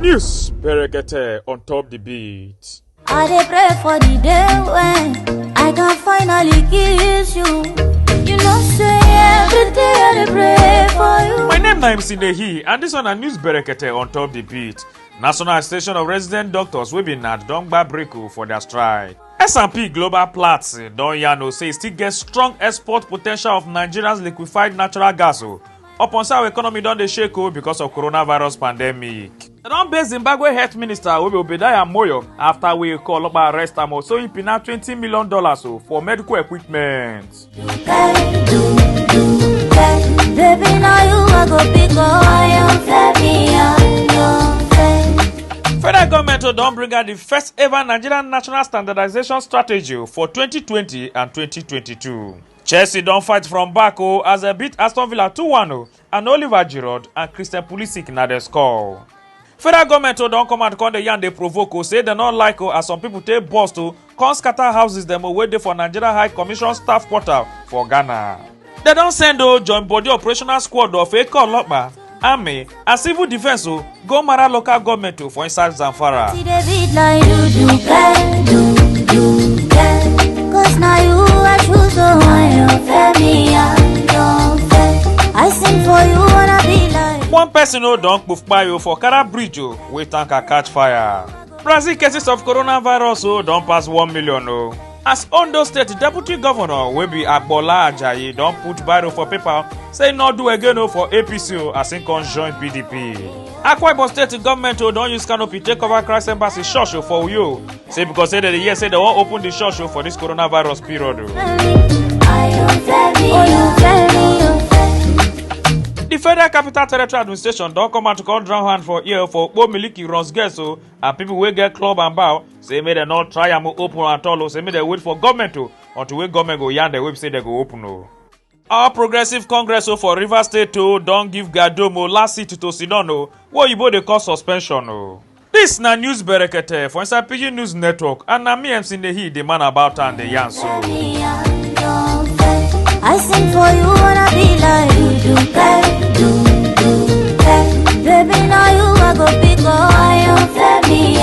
News Berekete on top the beat. I dey pray for the day when I can finally kiss you. You know, say every day I dey pray for you. My name na MC Nehi and this one na News Berekete on top the beat. National Association of Resident Doctors wey be NAD don gba break o for their strike. S&P Global Platts don yarn o say e still get strong export potential of Nigeria's liquefied natural gas o upon say our economy don dey shake o because of coronavirus pandemic. Dem don base Zimbabwe health minister Obi Obedaya Moyo after wey call ọlọpàá arrest am o so im pina twenty million dollars o for medical equipment. Federal government don bring out the first ever Nigerian national standardization strategy for 2020 and 2022. Chelsea don fight from back o as dem beat Aston Villa 2-1 o and oliver giroud and christian pulisic na dey score. federal goment o don come out come dey yarn dey provoke o say dem no like o as some pipo take burst o come scatter houses dem o wey dey for nigeria high commission staff quarter for ghana. dem don send o join body operational squad of eke olopa army and civil defence o Gomara local government o for inside Zamfara. See the beat like do do girl, do do girl. Cause now you I choose so I don't fair me, I don't fair. I sing for you wanna be like. One person o don kpofpa o for Kara bridge o wey tanker catch fire. Brazil cases of coronavirus o don pass one million o. as ondo state deputy governor wey be agbola ajayi don put biro for paper say no do again o for apc o as im come join pdp akwa ibom state goment o don use canopy take cover christ embassy church o for uyo say because say dem dey hear say dem wan open di church o for dis coronavirus period o. di federal capital territory administration don come out to come drown hand for ear for okpo miliki runs guest o and pipo wey get club and bar say make dem no try am open at all o say make dem wait for government o until wey government go yarn dem wey be say dem go open o. All Progressive Congress o for Rivers State o don give Gadom o last seat to Sinon o wey oyibo dey call suspension o. Dis na news berekete for inside Pidgin News Network and na me MC Nehi dey man about am dey yarn so. I sing for you wanna be like you do bad, do do bad. Baby, now you I go pick up. I am Femi, I